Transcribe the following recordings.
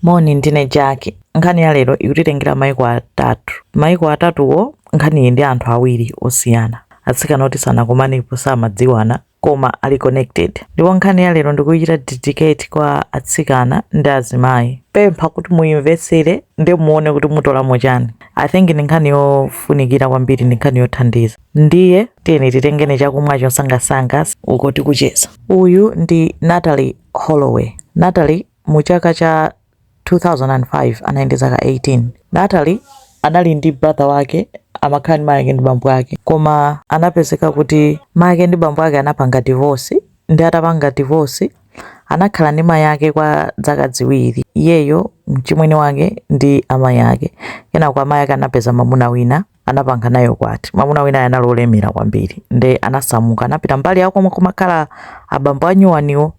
Moni, ndine Jack. Nkhani ya lero ikutitengera maiko atatu. Maiko atatuwo, nkhaniyi ndi anthu awiri osiyana. Atsikana oti sanakumanepo samadziwana koma ali connected. Ndipo nkhani ya lero ndikuichita dedicate kwa atsikana ndi azimayi. Ndipempha kuti muimvetsere ndi muone kuti mutolamo chani. I think ndi nkhani yofunikira kwambiri ndi nkhani yothandiza. Ndiye tiyeni titengene chakumwa chosangasanga uko tikucheza. Uyu ndi Natalie Holloway. Natalie Mu chaka cha 2005 anali ndi zaka 18. Natalie anali ndi brother wake amakhala ndi mayake ndi bambo ake koma anapezeka kuti mayake ndi bambo ake anapanga divorce nde atapanga divorce anakhala ndi mayake kwa dzaka dziwiri iyeyo mchimwene wake ndi amayi ake kenako amayi ake anapeza mamuna wina anapanga naye ukwati mamuna wina anali olemera kwambiri nde anasamuka anapita mbali yakomwe kumakhala abambo anyuwaniwo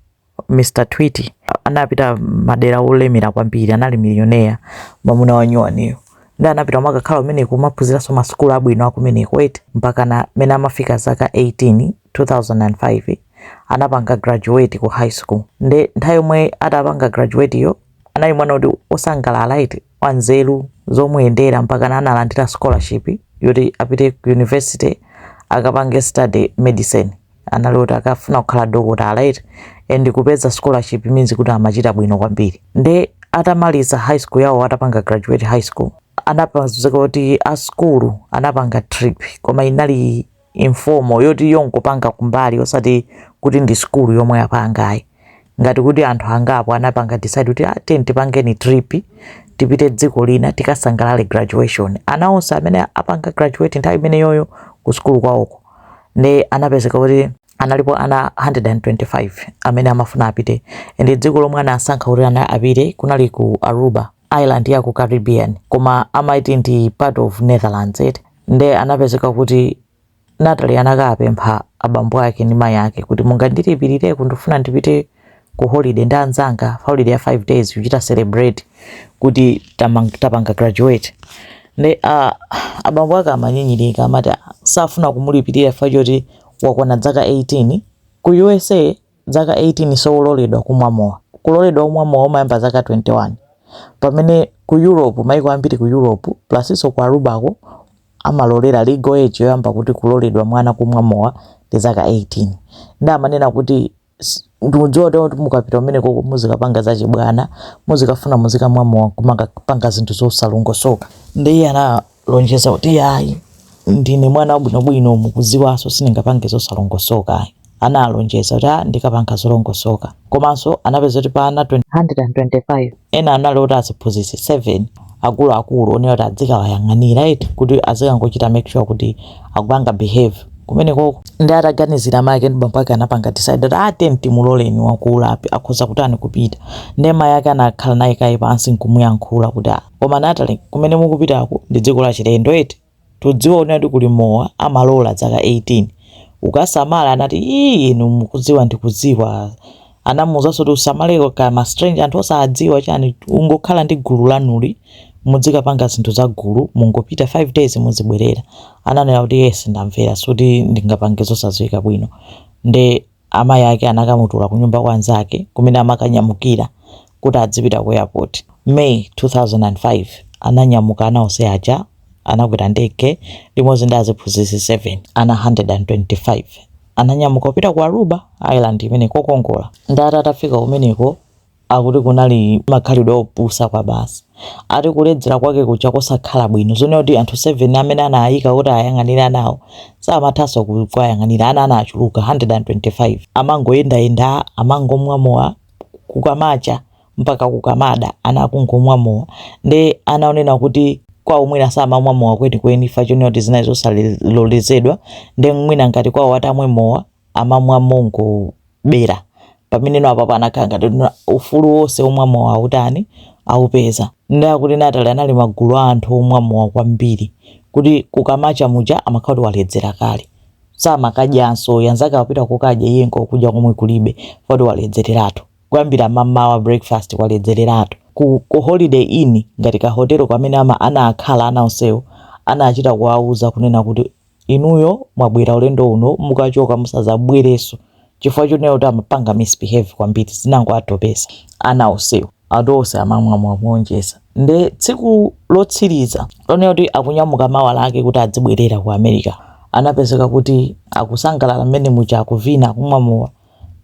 Mr Twitty anapita madera olemera kwambiri, anali millionaire mwamuna wa nyuwaniyo nde anapita kumakakhala kumeneko kumaphunziranso masukulu abwino akumeneko eti mpaka na mene amafika zaka 18 2005 anapanga graduate ku high school nde nthawi yomwe atapanga graduate yo anali mwana woti osangalala eti wanzeru zomuyendera mpaka na analandira scholarship yoti apite ku university akapange study medicine anali oti amafuna kukhala dokotala eti and kupeza scholarship means kuti amachita bwino kwambiri nde atamaliza high school yawo atapanga graduate high school anapezeka kuti a school anapanga trip koma inali informal yoti yongopanga kumbali osati kuti ndi school yomwe yapanga ayi ngati kuti anthu angapo anapanga decide kuti ah, tiye tipangeni trip tipite dziko lina tikasangalale graduation ana onse amene apanga graduate nthawi imeneyoyo ku school kwawoko nde anapezeka kuti analipo ana 125 amene amafuna apite ndi dziko lomwe anasankha kuti ana apite kunali ku aruba island ya ku caribbean koma amati ndi part of netherlands eti nde anapezeka kuti natalie anakapempha abambo ake ndi mayi ake kuti mungandilipirire ndikufuna ndipite ku holiday ndi anzanga holiday ya 5 days kuchita celebrate kuti tamang- tapanga graduate nde uh, abambo ake amanyinyirika amati "Ah, safuna kumulipirira chifukwa choti wakwana dzaka 18 ku usa dzaka 18 suloledwa kumwa mowa kuloledwa kumwa mowa umayamba dzaka 21 pamene ku europe maiko ambiri ku europe plasinso ku arubako amalolera legal age yoyamba kuti kuloledwa mwana kumwa mowa ndi dzaka 18 nde amanena kuti ndikudziwa kuti mukapita kumenekoko muzikapanga za chibwana muzikafuna muzikamwa mowa kumakapanga zinthu zosalongosoka nde iye analonjeza kuti yayi ndine mwana wabwinobwino mukudziwanso sindingapange zosalongosoka ayi analonjeza kuti ah, ndikapanga zolongosoka komanso anapeza kuti pa ana 125 ena anali oti aziphunzitsi 7 akuluakulu onena kuti adzikawayang'anira eti kuti azikangochita make sure kuti akupanga behave kumenekoko nde ataganizira mayi ake ndi bambo ake anapanga decide kuti timuloleni wakula akhoza kutani kupita nde mayi ake anakhala naye kaye pansi nkumuyankhula kuti "Ah, koma Natalie kumene mukupitako ndi dziko la chilendo eti tudziwa kunena kuti kuli mowa amalola dzaka 18 ukasamale anati ii ndikudziwa ndikudziwa anamuuzaso kuti usamaleko ma stranger anthu osadziwa chani ungokhala ndi gulu lanulo mudzikapanga zinthu za gulu mungopita 5 days muzibwerera ananena kuti yes ndamvera sikuti ndingapange zosadziwika bwino nde Amayi ake anakamutula kunyumba kwa anzake kumene amakanyamukira kuti adzipita ku airport. May 2005, ananyamuka ana onse aja anakwera ndege limodzi ndi aziphunzitsi 7, ana 125. Ananyamuka kupita ku Aruba Island imene kokongola. Nde ati atafika kumeneko Akuti kunali makhalidwe opusa kwabasi. Ati kuledzera kwake kuja kosakhala bwino, zonena kuti anthu 7 amene anaayika kuti ayang'anire anawo samathanso kuwayang'anira. Ana anachuluka 125. Amangoyendayenda, amangomwa mowa kukamacha mpaka kukamada ana akungomwa mowa. Nde ana onena kuti kwawo mwina samamwa mowa kwenikweni chifukwa chonena kuti zinali zosalolezedwa, nde mwina ngati kwawo atamwe mowa, amamwa mongobera pamene no apapo anakhala ngati kuti ufulu wonse womwa mowa autani aupeza nde akuti Natalie anali magulu a anthu omwa mowa kwambiri kuti kukamacha muja amakhala kuti waledzera kale samakadyanso anzake akupita kokadya iye nkokudya komwe kulibe poti waledzereratu kuyambira mamawa breakfast waledzereratu ku, ku holiday inn ndi kahotelo kamene ama anakhala ana onsewo anachita kuwauza kunena kuti inuyo mwabwera ulendo uno mukachoka musazabwereso chifukwa chonena kuti amapanga misbehave kwambiri zinango atopesa ana osewo ati onse amamwa mowa kuonjeza nde tsiku lotsiriza lonena kuti akunyamuka mawa lake kuti adzibwerera ku america anapezeka kuti akusangalala mmene muja akuvina akumwa mowa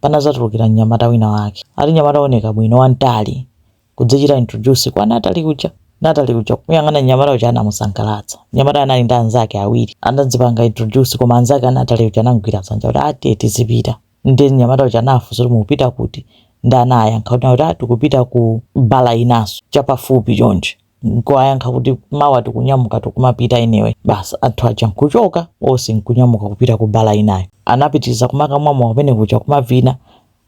panazatulukira mnyamata wina wake ati nyamata oneka bwino wamtali kudzichita introduce kwa Natalie kuja Natalie uja kuyang'ana nyamata uja anamusangalatsa nyamata anali ndi anzake awiri anadzipanga introduce koma anzake a Natalie uja anamugwira dzanja kuti ati tizipita nde nyamata uja anafunsa kuti mukupita kuti nde anayankha kuti kuti a tikupita ku bala inaso chapafupi chonje nkuwayankha kuti mawa tikunyamuka tikumapita anyway basi anthu aja nkuchoka onse nkunyamuka kupita ku bala inayo anapitiriza kumakamwa mowa kumene kuja kumavina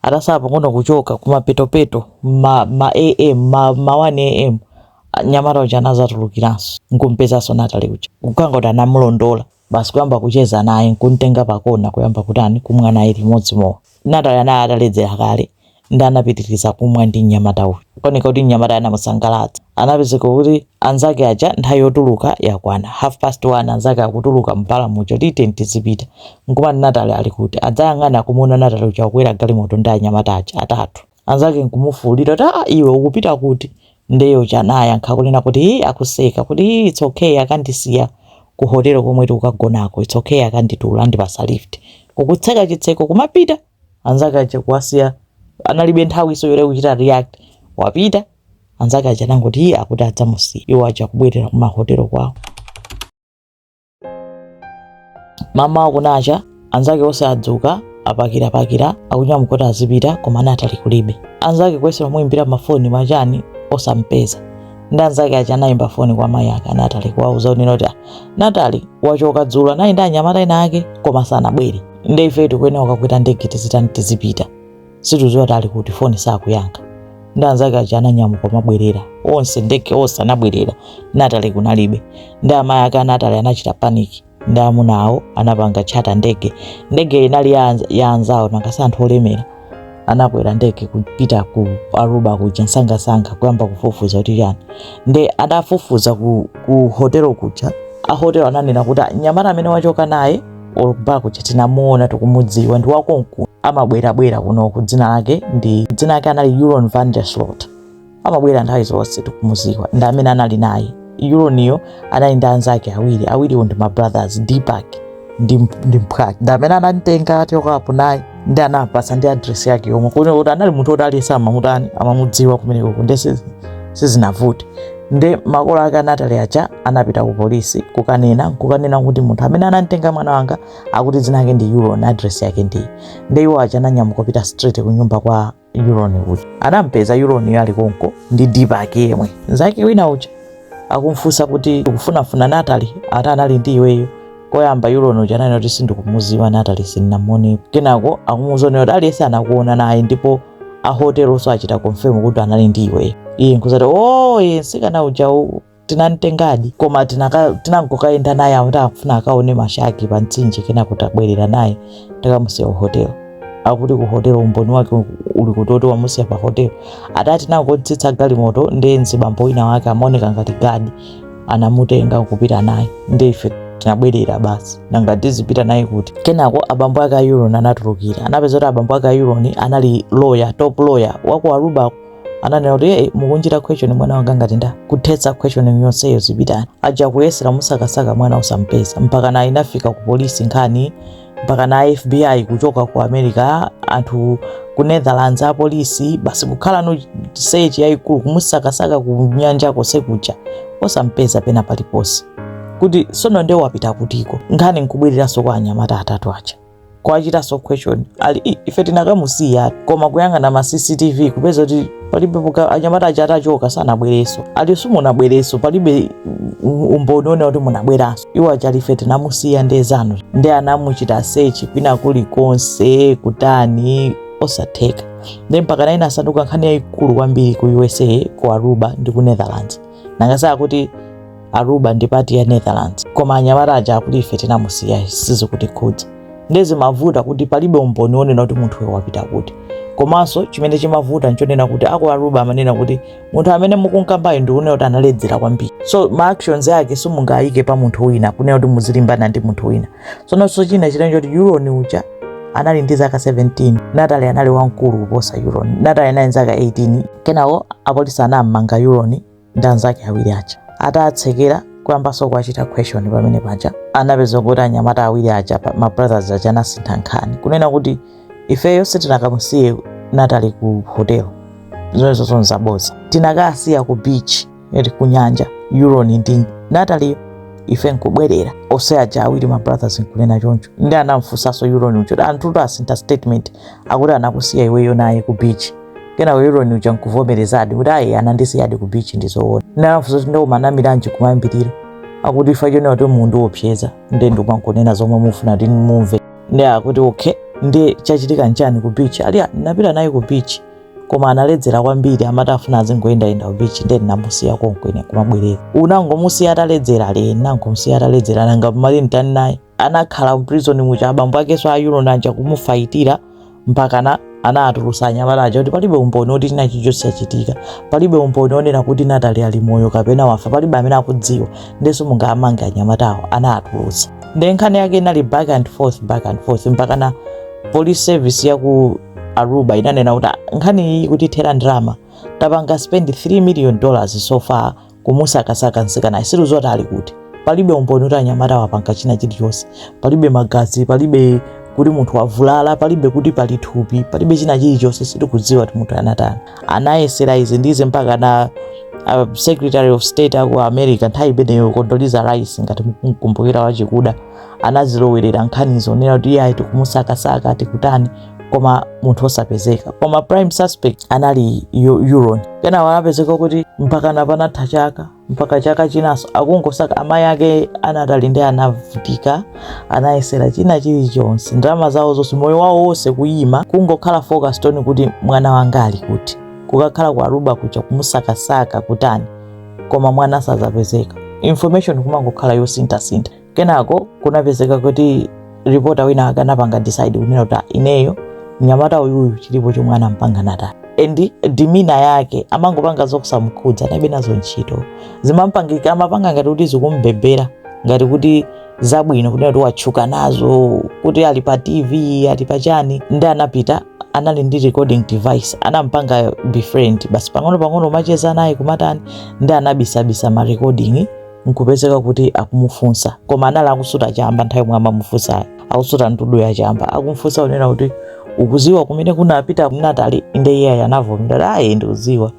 Atatsala pang'ono kuchoka kumapetopeto ma, ma am ma, ma 1 am nyamata uja anazatulukiranso nkumpezanso Natalie uja nkukangoti anamulondola basi kuyamba kucheza naye nkumtenga pakona kuyamba kutani kumwa naye limodzi mowa. Natalie anali ataledzera kale nde anapitiriza kumwa ndi mnyamata uja kuoneka kuti mnyamata anamusangalatsa anapezeka kuti Anzake aja nthawi yotuluka yakwana. Half past one anzake akutuluka mu bar muja kuti tiyeni tizipita. Nkumati Natalie ali kuti? Adzayang'ana kumuona Natalie uja akukwera galimoto ndi anyamata aja atatu. Anzake nkumufuulira kuti aa iwe ukupita kuti? Nde iye uja anayankha kunena kuti hi akuseka kuti hi it's okay akandisiya ku hotel komwe tikukagonako it's okay akanditula andipasa lift. Nkutseka chitseko kumapita. Anzake aja kuwasiya analibe nthawiso yoti nkuchita react. Wapita. anzake aja anangoti iye akuti adzamusiya iwo aja kubwerera kumahotelo kwawo mmawa kunacha anzake onse adzuka apakirapakira akunyamuka kuti azipita koma Natalie kulibe anzake kuyesa kumuyimbira mafoni machani osampeza nde anzake aja anayimba foni kwa mayi ake a Natalie kuwauza kunena kuti Natalie wachoka dzulo anali ndi anyamata ena ake koma sanabwere nde ife tikuyenera kukakwera ndege tizitani tizipita situziwa kuti ali kuti foni sakuyankha nde anzake aja ananyamuka mabwerera onse ndege onse anabwerera Natalie kunalibe nde amayi ake a Natalie anachita panic ndi amuna awo anapanga charter ndege ndege inali ya anz- ya anzawo nanga si anthu olemera anakwera ndege kupita ku Aruba kuja msangamsanga kuyamba kufufuza kuti yani nde atafufuza ku, ku hotelo kuja ahotelo ananena kuti "Ah, mnyamata amene wachoka naye ku bar kuja tinamuona tikumudziwa ndi wakonkuno amabwerabwera kunoku dzina lake ndi dzina lake anali Joran van der Sloot amabwera nthawi zonse tikumudziwa ndi amene anali naye Joraniyo anali ndi anzake awiri awiriwo ndi mabrothers Deepak ndi ndi mphwake ndi amene anamtenga achokapo naye nde anapasa ndi address yake yomwe kuti kuti anali munthu woti aliyense amamutani amamudziwa kumeneko nde sizinavute nde makolo ake a Natalie aja anapita ku polisi kukanena kukanena kuti munthu amene anamtenga mwana wanga akuti dzina lake ndi Joran address yake ndi nde iwo aja ananyamuka kupita straight ku nyumba kwa Joran uja anampeza Joraniyo ali konko ndi Deepak yemwe nzake wina uja akumfunsa kuti tikufunafuna Natalie ati anali ndi iweyo koyamba Joran uja ananena kuti sindikumuziwa Natalie sindinamuonepo kenako akumuuza kunena kuti aliyense anakuona naye ndipo ahotelonso achita confirm kuti anali ndi iweyo iye nkuzati o oh, ye nsikana uja tinamtengadi koma tinangokayenda naye akuti akufuna akaone mashaki pa mtsinje kenako tabwerera naye takamusiya ku hotelo akuti ku hotelo umboni wake uli kuti woti mwamusiya pa hotelo akuti tinangotsitsa galimoto ndi mzibambo wina wake amaoneka ngati gadi anamutenga kupita naye ndi ife tinabwerera basi nanga tizipita naye kuti kenako abambo ake a yuron anatulukira anapeza kuti abambo ake a yuron anali loya top loya waku aruba ananena kuti hey, mukumuchitira question mwana wanga ngati ndani kuthetsa question yonseyo zipitani aja kuyesera kumusakasaka mwana osampeza mpakana inafika ku polisi nkhani mpakana fbi kuchoka ku america anthu ku netherlands apolisi basi kukhala ndi search yayikulu kumusakasaka ku nyanja konse kuja osampeza pena paliponse kuti sono nde wapita kutiko nkhani nkubwereranso kwa anyamata atatu aja kuwachitanso question ali "Ih, ife tinakamusiya koma kuyang'ana ma cctv kupeza kuti palibe poti anyamata aja atachoka sanabwereso ali simunabwereso palibe mm, umboni onena kuti munabweranso iwo aja ali ife tinamusiya nde zanu nde anamuchita sechi kwina kulikonse kutani osatheka nde mpakana inasanduka nkhani yayikulu kwambiri ku usa ku aruba ndi ku netherlands nanga si kuti aruba ndi pati ya netherlands koma anyamata aja akuti ife tinamusiya sizikutikhudza ndiye zimavuta kuti palibe umboni wonena kuti munthuyo wapita kuti komanso chimene chimavuta nchonena kuti aku aruba amanena kuti munthu amene mukunkambayo ndi unena kuti analedzera kwambiri so ma actions ake simungayike pa munthu wina kunena kuti muzilimbana ndi munthu wina sononso china chitani choti yuroni uja anali ndi zaka 17 natali anali wamkulu kuposa yuroni natali anali ndi zaka 18 kenawo apolisi anammanga yuroni ndi anzake awiri aja atawatsekera kuyambanso kuwachita question pamene paja anapeza kuti anyamata awiri aja pa- ma brothers aja anasintha nkhani kunena kuti ifeyo sitinakamusiye natali ku hotel zonsezo nzaboza tinakasiya ku beach eti ku nyanja yuroni ndi natali ife nkubwerera ose aja awiri ma brothers nkunena choncho nde anamfunsanso yuroni uja anthutu asintha statement akuti anakusiya iweyo naye ku beach kenako yuroni uja nkuvomerezadi kuti ayi anandisiyadi ku beach ndi zoona nde anafunsa kuti nde umanamiranji kumayambiriro akuti chifukwa chonena kuti mumandiopseza nde ndikumangonena zomwe mufuna kuti mumve nde akuti okay nde chachitika nchani ku beach ali "Ah, ndinapita naye ku beach koma analedzera kwambiri amati afuna azingoyendayenda ku beach nde ndinamusiya konko ine kumabwerera unangomusiya ataledzera ali ndinangomusiya ataledzera nanga mmati nditani naye anakhala mprison muja abambo akenso a yuroni aja kumufaitira mpakana anatulusa anyamata aja kuti palibe umboni woti china chichonse chachitika palibe umboni wonena kuti natali ali moyo kapena wafa palibe amene akudziwa nde simungamange anyamatawo anatulusa nde nkhani yake inali back and forth back and forth mpakana police service ya ku aruba inanena kuti "Ah, nkhani iyi ikutithera ndalama tapanga spend 3 million dollars so far kumusakasaka mtsikanayo sitikudziwa kuti ali kuti palibe umboni kuti anyamatawa apanga china chilichonse palibe magazi palibe kuti munthu wavulala palibe kuti pali thupi palibe china chilichonse sitikudziwa kuti munthu anatani anayesera izi ndi izo mpaka na uh, secretary of state aku america nthawi imeneyo condoleezza rice ngati mukumkumbukira wachikuda anazilowerera nkhanizo kunena kuti iye ayi tikumusakasaka tikutani koma munthu osapezeka koma prime suspect anali joran kenako anapezeka kuti mpakana panatha chaka mpaka chaka chinaso akungosaka amayi ake a natalie nde anavutika anayesera china chilichonse ndalama zawo zonse moyo wawo wonse kuyima kungokhala focused on kuti mwana wanga ali kuti kukakhala ku aruba kuja kumusakasaka kutani koma mwana sazapezeka information kumangokhala yosinthasintha kenako kunapezeka kuti ripota wina ake anapanga decide kunena kuti "Ah, ineyo mnyamata uyuyu chilipo chomwe anampanga natalie and demeanor yake amangopanga zosamkhudza analibe nazo ntchito zimampangika amapanga ngati kuti zikumbebera ngati kuti zabwino kunena kuti watchuka nazo kuti ali pa tv ali pa chani nde anapita anali ndi recording device anampanga befriend basi pang'ono pang'ono kumacheza naye kumatani nde anabisabisa ma recording nkupezeka kuti akumufunsa koma anali akusuta chamba nthawi yomwe amamufunsayo akusuta ndudu ya chamba akumfunsa kunena kuti ukuziwa kumene kunapita natalie nde iye anavomera ayi ndikuziwa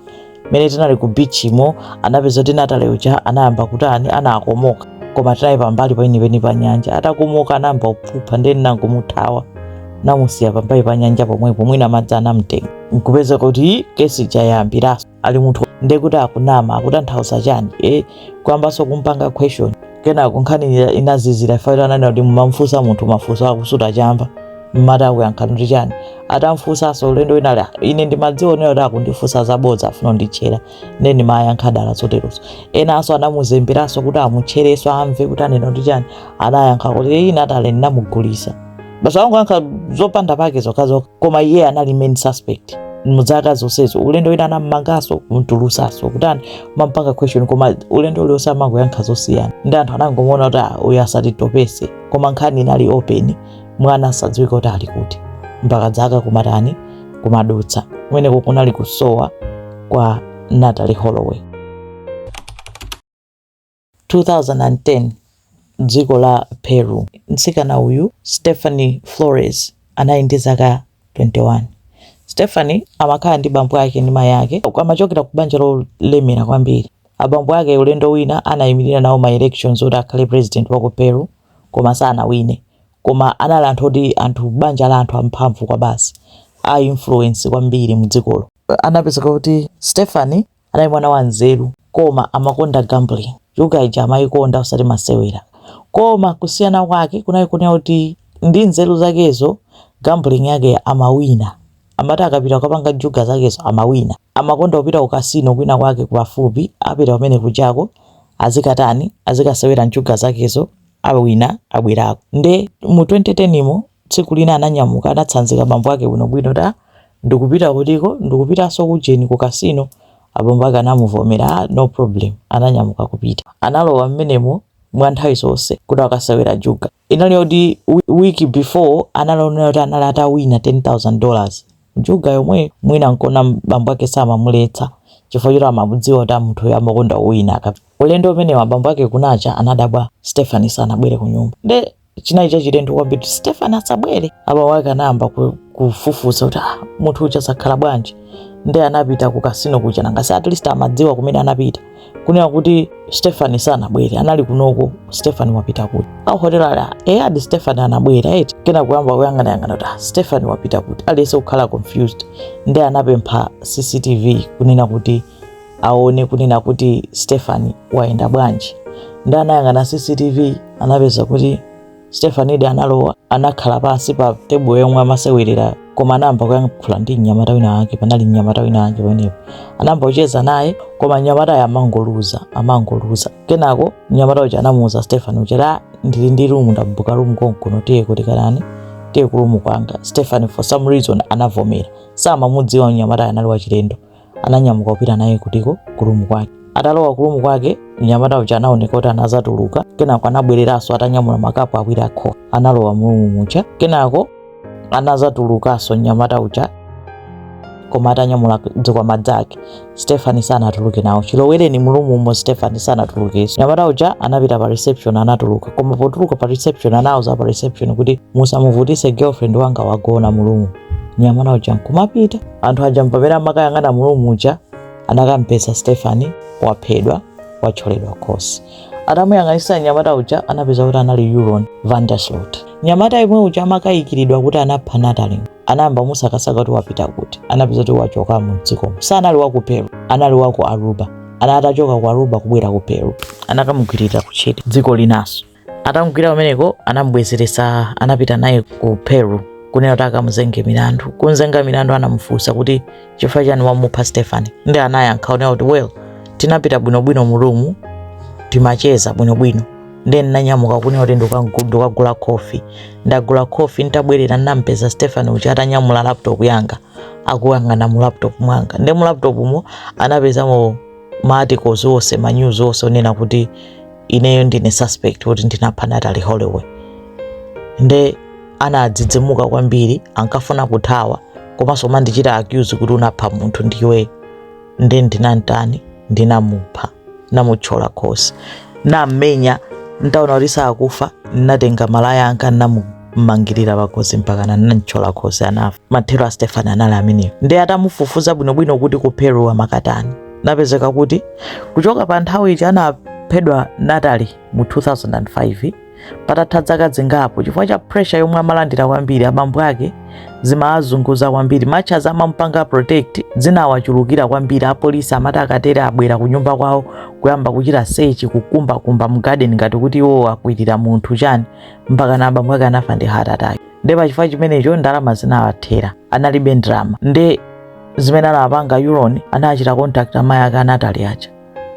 mmene tinali ku beach mo anapezeka kuti natalie uja anayamba kutani anakomoka koma tinali pambali penipeni pa nyanja atakomoka anayamba kuphupha nde ninangomuthawa namusiya pambali pa nyanja pomwepo mwina madzi anamtenga nkupezeka kuti case ija yayambiraso ali munthu ndiye kuti akunama akutanthauza chani e kuyambanso kumpanga question kenako nkhani ina- inazizira after ananena kuti mumamfunsa munthu mafunso akusuta chamba mumati akuyankhani kuti chani atamfunsanso ulendo wina ali, "Ah, ine ndimadziwonera kuti akundifunsa zabodza afuna nditchera nde ndimayankha dala zoterozo enanso anamuzemberanso kuti amutcherenso amve kuti anena kuti chani anayankha kuti ine natalie ndinamugulisa basi angoyankha zopanda pake zokhazokha koma iye anali main suspect mudzaka zonsezo ulendo wina anammanganso kumtulusanso kutani kumampanga question koma ulendo ulionse amangoyankha zosiyana ndi anthu anangomuona kuti "Ah, uyu asatitopese koma nkhani inali open mwana osadziwika kuti ali kuti mpaka dzaka kumatani kumadutsa kumeneko kunali kusowa kwa natalie holloway 2010 m'dziko la Peru. Mtsikana uyu, Stephanie Flores, anali ndi zaka 21. Stephanie amakhala ndi bambo ake ndi mayi ake. Amachokera ku banja lolemera kwambiri. Abambo ake ulendo wina anaimirira nawo ma elections oti akhale president wa ku Peru koma sanawine. Koma anali anthu oti anthu banja la anthu amphamvu kwabasi, a influence kwambiri m'dzikolo. Anapezeka kuti Stephanie Anali mwana wanzeru koma amakonda gambling. Juga ija amayikonda osati masewera. Koma kusiyana kwake kunali konena kuti ndi nzeru zakezo gambling yake amawina. Amati akapita kukapanga juga zakezo amawina. Amakonda kupita ku casino kwina kwake kupafupi apita kumene kujako azikatani, azikasewera njuga zakezo. awina abwerako nde mu 2010 imo tsiku lina ananyamuka anatsanzika bambo ake bwinobwino ta ndikupita kutiko ndikupitanso kujeni ku kasino abambo ake anamuvomera "Ah, no problem ananyamuka kupita analowa mmenemo mwa nthawi zonse kuti akasewera juga inali yoti wi- week before analaonera kuti anali atawina 10000 dollars njuga yomwe mwina nkona bambo ake samamuletsa chifukwa choti amamudziwa kuti ah munthuyo amakonda kuwina akap ulendo umenewo abambo ake kunacha anadabwa Stephanie sanabwere kunyumba nde chinali chachilendo kwambiri kuti Stephanie asabwere abambo ake anayamba ku- kufufuza kuti ah, munthu uja zakhala bwanji nde anapita ku kasino kuja nanga si at least amadziwa kumene anapita kunena kuti Stephanie sanabwere anali kunoko Stephanie wapita kuti aku hotel ali eyadi Stephanie anabwera eti kena kuyamba kuyang'ana yang'ana kuti ah, Stephanie wapita kuti aliyense kukhala confused nde anapempha CCTV kunena kuti aone kunena kuti Stephanie wayenda bwanji nde anayang'ana CCTV anapeza kuti Stephaniedi analowa, anakhala pansi pa tebulo yomwe amasewerera koma anayamba kuyankhula ndi mnyamata wina wake. Panali mnyamata wina wake pamenepo, anayamba kucheza naye koma mnyamatayo amangoluza, amangoluza. Kenako mnyamata uja anamuuza Stephanie uja kuti "Ah, ndili ndi rumu ndabuka rumu konkuno tiye kuti kanani tiye ku rumu kwanga. Stephanie for some reason anavomera, samamudziwa mnyamatayo anali wachilendo. ananyamuka kupita naye kutiko kurumu kwake atalowa kurumu kwake mnyamata uja anaoneka kuti anazatuluka kenako anabwereranso atanyamula makapu awiri a khofi analowa mu rumu muja kenako anazatulukanso mnyamata uja koma atanyamula dzikwama dzake Stephanie sanatuluke nawo chilowereni mu rumu umo Stephanie sanatulukenso mnyamata uja anapita pa reception anatuluka koma potuluka pa reception anauza pa reception kuti musamuvutise girlfriend wanga wagona mu rumu mnyamata uja nkumapita anthu aja mpamene amakayang'ana mu rumu uja anakampeza Stephanie waphedwa watcholedwa khosi atamuyang'anisa mnyamata uja anapeza kuti anali Joran van der Sloot mnyamata yemwe uja amakayikiridwa kuti anapha natalie anayamba musakasaka kuti wapita kuti anapeza kuti wachoka mu dzikomo sanali wa ku peru anali wa ku aruba ana atachoka ku aruba kubwera ku peru anakamugwirira ku Chile dziko linaso atamugwira kumeneko anamubwezeretsa anapita naye ku peru kunena kuti akamuzenge milandu kunzenga milandu anamufunsa kuti chifukwa chani wamupha stefani ndi anayankha kunena kuti well tinapita bwinobwino mu room timacheza bwinobwino ndi ndinanyamuka kunena kuti ndikagu- ndikagula khofi ndagula khofi nditabwerera ndinampeza stefani uja atanyamula laptop yanga akuyang'ana mu laptop mwanga ndi mu laptop mo anapezamo ma articles onse ma news onse onena kuti ineyo ndine suspect kuti ndinapha Natalie Holloway nde anadzidzimuka kwambiri ankafuna kuthawa komanso umandichita accuse kuti unapha munthu ndiwe nde ndinamtani ndinamupha namutchola khosi namenya ntaona kuti sakufa natenga malaya anga namu mmangirira pakhosi mpakana anamtchola khosi anafa mathero a stefani anali ameneyo ndiye atamufufuza bwinobwino kuti ku peru amakatani napezeka kuti kuchoka pa nthawi ija anaphedwa natali mu 2005 patatha dzaka zingapo chifukwa cha pressure yomwe amalandira kwambiri abambo ake zimawazunguza kwambiri ma charges amamupanga protect zinawachulukira kwambiri apolisi amati akatere abwera ku nyumba kwawo kuyamba kuchita sechi kukumbakumba mu garden ngati kuti iwo akwirira munthu chani mpakana abambo ake anafa ndi heart attack nde pachifukwa chimenecho ndalama zinawathera analibe ndalama nde zimene anapanga yuloni anachita contact amayi ake a natali aja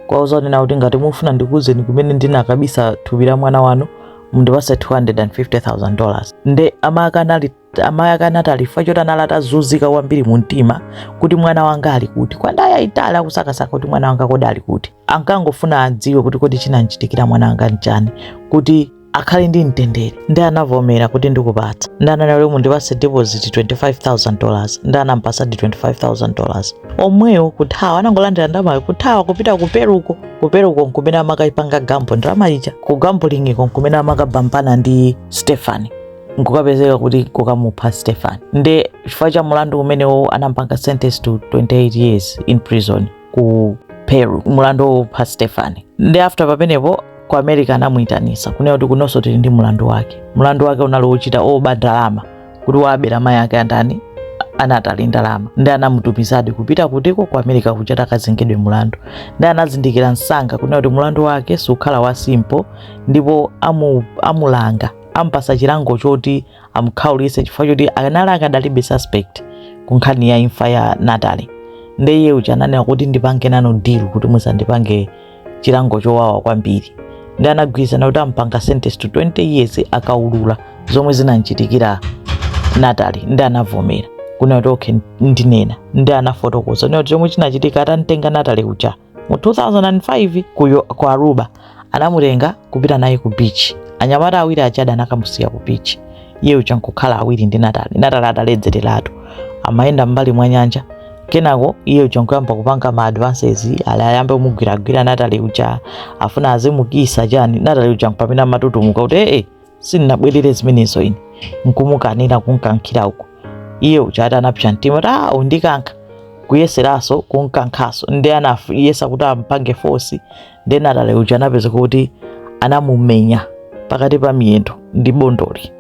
kuwauza kunena kuti ngati mufuna ndikuuzeni kumene ndinakabisa thupi la mwana wanu mundipase 250,000 dollars nde amayi ake anali amayi ake a natali chifukwa choti anali atazunzika kwambiri mu mtima kuti mwana wanga ali kuti kwa nthawi yayitali akusakasaka kuti mwana wanga kodi ali kuti ankangofuna adziwe kuti kodi chinamchitikira mwana wanga nchani kuti akhale ndi mtendere nde anavomera kuti ndikupatsa nde ananena kuti mundipatse deposit 25000 dollars nde anampatsadi 25000 dollars omweyo kuthawa anangolandira ndamayo kuthawa kupita ku peruko ku peruko nkumene amakayipanga gambo ndalama ija ku gambulingiko nkumene amakapambana ndi stefani nkukapezeka kuti kukamupha stefani nde chifukwa cha mulandu umenewo anampanga sentence to 28 years in prison ku peru mulandu wopha stefani nde after pamenepo ku america anamuyitanisa kunena kuti kunonso tili ndi mulandu wake mulandu wake unali wochita oba ndalama kuti wabera mayi ake andani a natali ndalama nde anamutumizadi kupita kutiko ku america kuja akazengedwe mulandu nde anazindikira msanga kunena kuti mulandu wake sukhala wa simple ndipo amu, amulanga ampasa chilango choti amukhaulitse chifukwa choti anali akadali suspect ku nkhani ya imfa ya natali nde iye uja ananena kuti ndipange nanu deal kuti musandipange chilango chowawa kwambiri nde anagwirizana kuti ampanga sentence to 20 years akaulula zomwe zinamchitikira natali nde anavomera kunena kuti okay ndinena nde anafotokoza nena kuti chomwe chinachitika atamtenga natali uja mu 2005 ku aruba anamutenga kupita naye ku beach anyamata awiri aja anakamusiya ku beach iye uja nkukhala awiri ndi natalie ataledzereratu amayenda m'mbali mwa nyanja kenako iye uja nkuyamba kupanga ma advances ali ayambe kumugwiragwira natalie uja afuna azimukisa chani natalie uja nkupamene amatutumuka kuti ee sindinabwerere zimenezo ine nkumukanira kumkankhira uko iye uja ati anapsa mtima kuti a undikankha kuyeseranso kumkankhanso nde anayesa kuti ampange force nde natalie uja anapezeka kuti anamumenya pakati pa miyendo ndi bondoli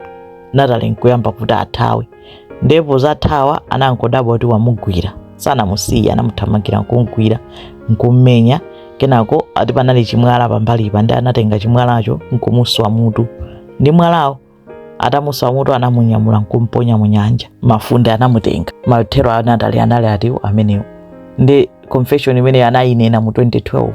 natalie nkuyamba kuti athawe ndiye pozathawa anangodabwa kuti wamugwira sanamusiye anamuthamangira nkumgwira nkummenya kenako ati panali chimwala pambalipa nde anatenga chimwalacho nkumuswa mutu ndi mwalawo atamuswa mutu anamunyamula nkumponya mu nyanja mafunde anamutenga mathero a natalie anali otero amenewo ndi confession imene anayinena mu 2012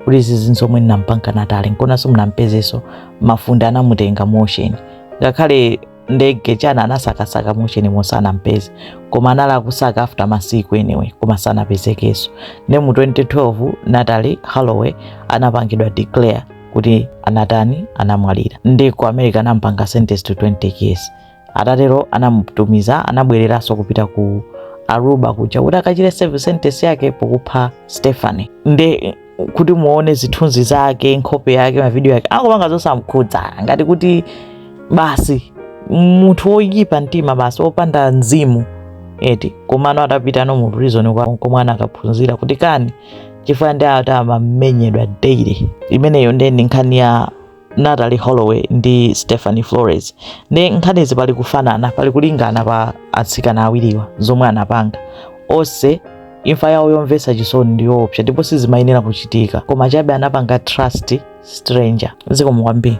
kuti izi zomwe ndinampanga natalie nkonanso simunampezeso mafunde anamutenga mu ocean ngakhale ndege chana anasakasaka mu ocean monse sanampeze koma anali akusaka after masiku anyway koma sanapezekenso nde mu 2012 natalie holloway anapangidwa declare kuti anatani anamwalira nde ku america anampanga sentence to 20 years atatero anamutumiza anabwereranso kupita ku aruba kuja kuti akachite serve sentence yake pokupha stephanie nde kuti muone zithunzi zake nkhope yake mavidiyo ake akupanga zosamkhudza ngati kuti basi munthu woyipa mtima basi wopanda mzimu eti komano atapita mu prison nkomwe anakaphunzira kuti kani chifukwa nde ati amamenyedwa daily imeneyo ndiye ndi nkhani ya Natalie Holloway ndi Stephanie Flores nde nkhanizi pali kufanana pali kulingana pa atsikana awiriwa zomwe anapanga onse imfa yawo yomvetsa chisoni ndi yoopsa ndipo sizimayenera kuchitika koma chabe anapanga trust stranger zikomo kwambiri